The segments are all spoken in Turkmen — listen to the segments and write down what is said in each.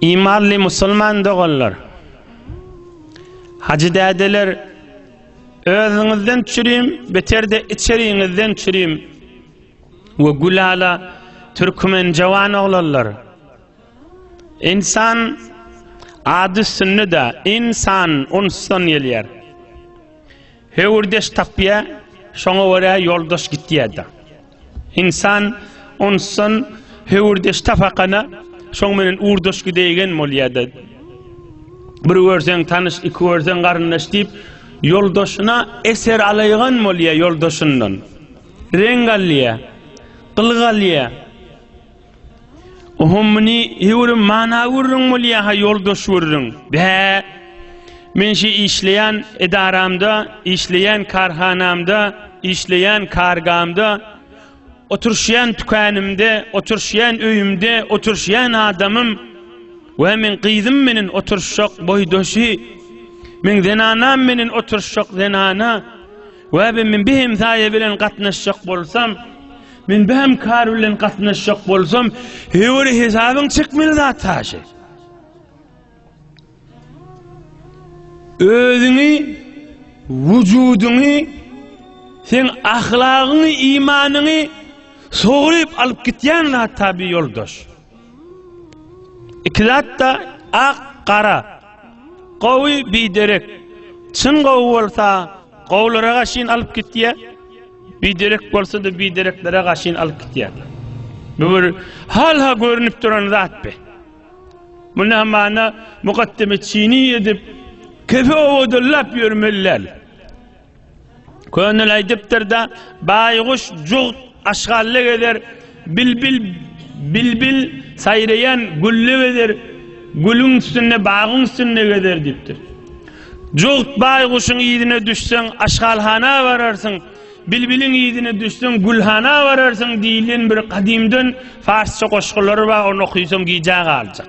Imanly musulman doganlar, hajy dädeler, özüňizden çürim, beterde içeriňizden çürim we gülala türkmen jawan oglanlar. Insan ady üstünde de insan unsdan gelýär. Höwürdeş tapýa, şoňa görä ýoldaş gitýä-de. Ynsan onsan höwürdeş tapakana, şoň menen urdaş gidäýgen bolýa-da. Bir görseň tanyş, iki görseň garyndaş diýip, ýoldaşyna eser alaýgan bolýa ýoldaşyndan. Reň alýa, gylyk alýa. Ohum muni hewrim mana gürrüň bolýa ha ýoldaş gürrüň. Bä. Men şu işleýän edaramda, işleýän karhanamda, işleýän kargamda, oturşýan tükanymda, oturşýan öýümde, oturşýan adamym we men gyzym meniň oturşak boýdaşy. Men zenanam meniň oturşak zenana. We men bir hemsaýa bilen gatnaşjak bolsam, Men bäm kar bilen gatnaşjak bolsam, höwri hesabyň çekmeli zat haşy. Özüňi, wujudyňy, sen ahlagyňy, imanyňy sogryp alyp gitýän zat tabi ýoldaş. Iki zatda ak gara. Gowy biderek. Çyn gowy bolsa gowlara gaşyn alyp gitýä. Biderek bolsa-da bidereklere gaşyn alyp gitýä. Bu bir halha görünip duran zat be. Munda hamana mukaddemi çini edip kefe owadyllap ýörmeli däl. Könül aýdypdyr da, baýguş jugt aşgalla gezer, bilbil bilbil saýraýan gülle gezer, gülüň üstünde bagyň üstünde gezer diýipdir. Jugt baýguşyň yzyna düşseň aşgalhana bararsyň, bilbiliň yzyna düşseň gülhana bararsyň diýlen bir gadymdan farsça goşgulary bar, ony okysaň gijä galjak.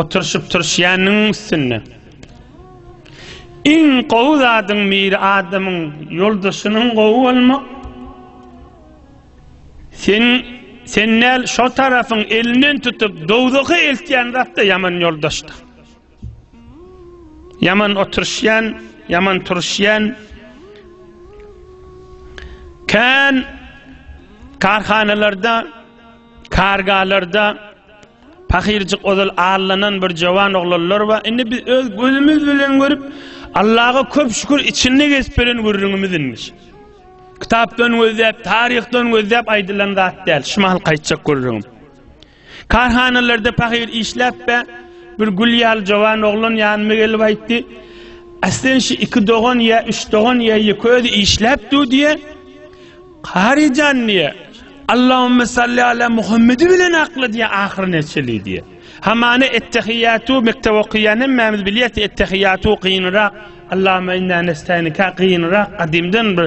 Oturşyp turşýanyň üstünde. Iň gowy zadyň biri adamyň ýoldaşynyň gowy bolmak. Sen sen näl şo tarafyň elinden tutup dowzaha eltýän zatda ýaman ýoldaşdyr. Ýaman oturşýan, ýaman turuşýan. Kän karhanalarda, kargalarda pahyrjyk ozal allanan bir jowan oglanlar bar. Indi biz öz gözümiz bilen görüp, Allaha köp şükür içinde gezip beren gürrüňimiz inmiş. Kitapdan gözläp, taryhdan gözläp aýdylan zat däl. Şu mahal gaýtjak gürrüňim. Karhanalarda pahyr işläp-ä, bir gül ýaly jowan oglan ýanyma gelip aýtdy, Aslyn şu iki dogan ýa üç dogan ýa ýeke özi işläp dur diýýä. Kary jan diýýä, Allahümme salli ala Muhammedi bilen akla diýýä ahyry neçeli diýýä. Hamana ettehiýatu mekdep okaýan hemmämiz bilýäs ettehiýatu gynrak, Allahümme inna nestaýnika gynrak gadymdan bir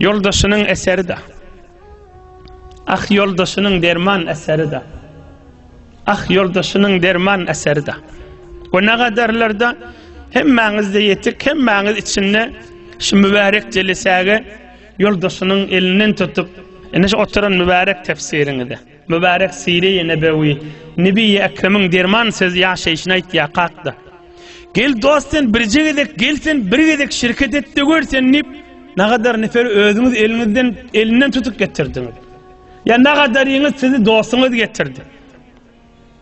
Ýoldaşynyň eseri-de. Ah ýoldaşynyň derman eseri-de. Ah ýoldaşynyň derman eseri-de. Bu nagadarlarda hemmäňizde ýetik, hemmäňiz içinde şu mübärek jelisäge ýoldaşynyň elinden tutup, ene şu oturan mübärek tefsiriňize. Mübärek Syry-i Nebewi, Nebi-i Ekremiň derman sözi ýaşaýşyny aýtýar, Kakda! Gel dost sen birje gezek, gel sen bir gezek şirket et-de gör sen diýip, nagadar neferi özüňiz eliňizden, elinden tutup getirdiňiz. Ýa nagadaryňyz sizi dostuňyz getirdi.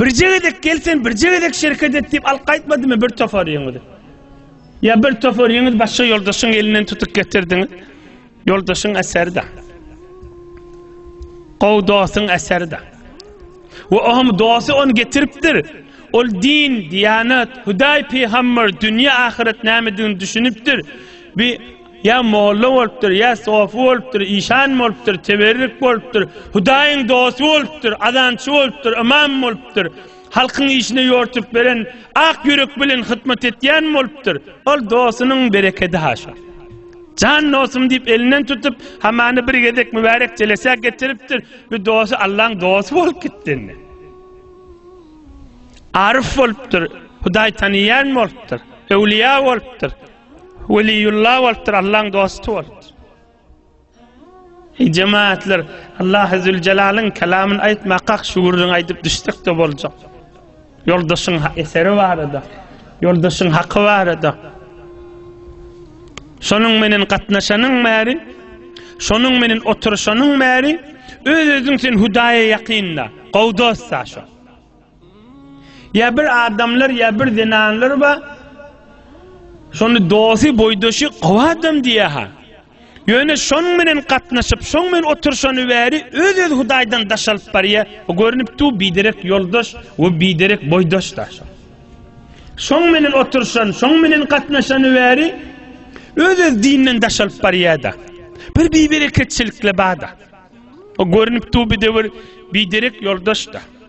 Birje gezek gel sen birje gezek şereket et diýip alyp gaýtmadymy bir tofaryňyzy? Ýa bir tofaryňyz başga ýoldaşyň elinden tutup getirdiňiz? Ýoldaşyň eseri de. Gowy dostuň eseri de. We oňam dosty ony getiripdir. Ol din, diýanat, Hudaý, pygamber, dünýä, ahyret nämedigini düşünipdir. Bir Ýa molla bolupdyr, ýa sofy bolupdyr, işan bolupdyr, teberrük bolupdyr, Hudaýyň dosty bolupdyr, azançy bolupdyr, ymam bolupdyr, halkyň işine ýortup beren, ak ýürek bilen hytmat etýän bolupdyr. Ol dostunyň berekedi haşa. Jan dostum diýip elinden tutup, hamany bir gezek mübärek jelesä getiripdir, bu dosty Allaň dosty bolup gitdi indi. Aryf bolupdyr, Hudaý tanaýan bolupdyr, öwlüýä bolupdyr. Weliýullah bolupdyr, Allaň dosty bolupdyr. Eý jemaatlar, Allahy Züljelalyn kelamyn aýtmakak şu gürrüň aýdyp düşsek-de boljak. Ýoldaşyň eseri barada, ýoldaşyň haky barada. Şonuň menen gatnaşanyň bäri, şonuň menen oturyşanyň bäri öz-özüň sen Hudaýa ýakynda, gowy dostda şo. Ýa bir adamlar ýa bir zenanlar bar. Şony dosty, boýdaşy gowy adam diýýärha. Ýöne şonuň bilen gatnaşyp, şoň bilen oturşany bäri öz-öz Hudaýdan daş alyp barýar. O görnüp dur, biderek ýoldaş we biderek boýdaş-da. Şoň bilen oturşan, şoň bilen gatnaşany bäri öz-öz dinden daş alyp barýar-da. Bir bibereketçilikle bar-da. O görnüp dur, biderek ýoldaş-da.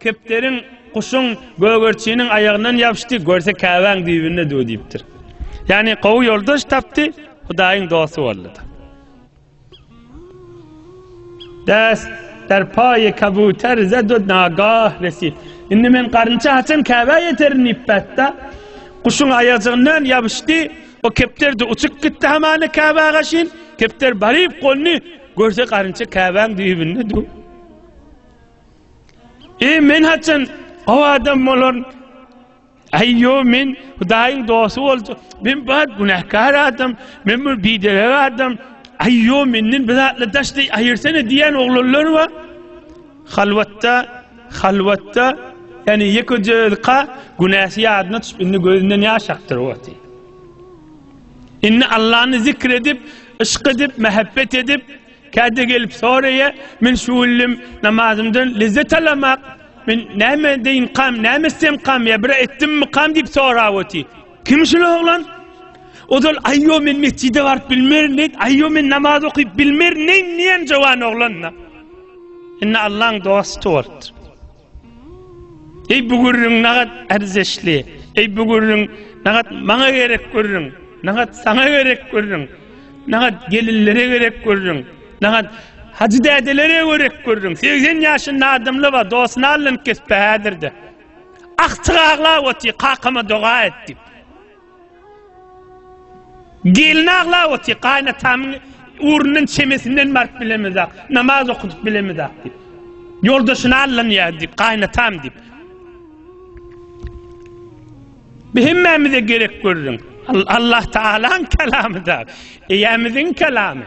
Kepderiň, guşuň, gögerçiniň aýagyndan ýapyşdy, görse Käbäň düýbünde döw diýipdir. Ýagny gowy ýoldaş tapdy, Hudaýyň dosty boldy. Däs der paýy kabuter zedud nagah resi. Indi men garynça haçan Käbä ýeterin diýip bätda. Guşuň aýajygyndan ýapyşdy. O kepder de uçup gitdi hamany Käbä gaşyn. Kepder baryp golny görse garynça Käbäň düýbünde döw. Eý men haçan o adam bolaryn? Aý yo men Hudaýyň dosty boljak. Men bar günäkar adam, men bir biderek adam. Aý yo menden bir zatla daşdy aýyrsana diýen oglanlar bar. Halwatda, halwatda ýani ýekeje özka günäsi ýadyna düşüp indi gözünden ýaş akdyr wagty. Indi Allany zikr edip, yşk edip, mähebbet edip, Käte gelip soraýa, men şu günlem namazymdan lezzet alamak, men näme edeýinkam, näme etsemkam ýa bir etdimmikam diýip sorap otyr. Kim şul oglan? Ozal aýýo men metjide baryp bilmerin diýip, aýýo men namaz okyp bilmerin diýen jowan oglan-da. Indi Allaň dosty bolupdyr. Eý bu gürrüň nagat ärzeşli, eý bu gürrüň nagat maňa gerek gürrüň, nagat saňa gerek gürrüň, nagat gelinlere gerek gürrüň, nagat Hajy dädelere gerek gürrüň, segsen ýaşynda adamly bar, dosyny aldan kesip häzirde. Agtyk aglap otyr, kakama doga et diýip. Gelin aglap otyr, Gaýynatamyň ugrundan çemesinden baryp bilemizak, namaz okudyp bilemizak diýip. Ýoldaşyny allanýar diýip, gaýynatam diýip. Bu hemmämize gerek görüň. Allah Tagalaň kalamy da, eýämiziň kalamy.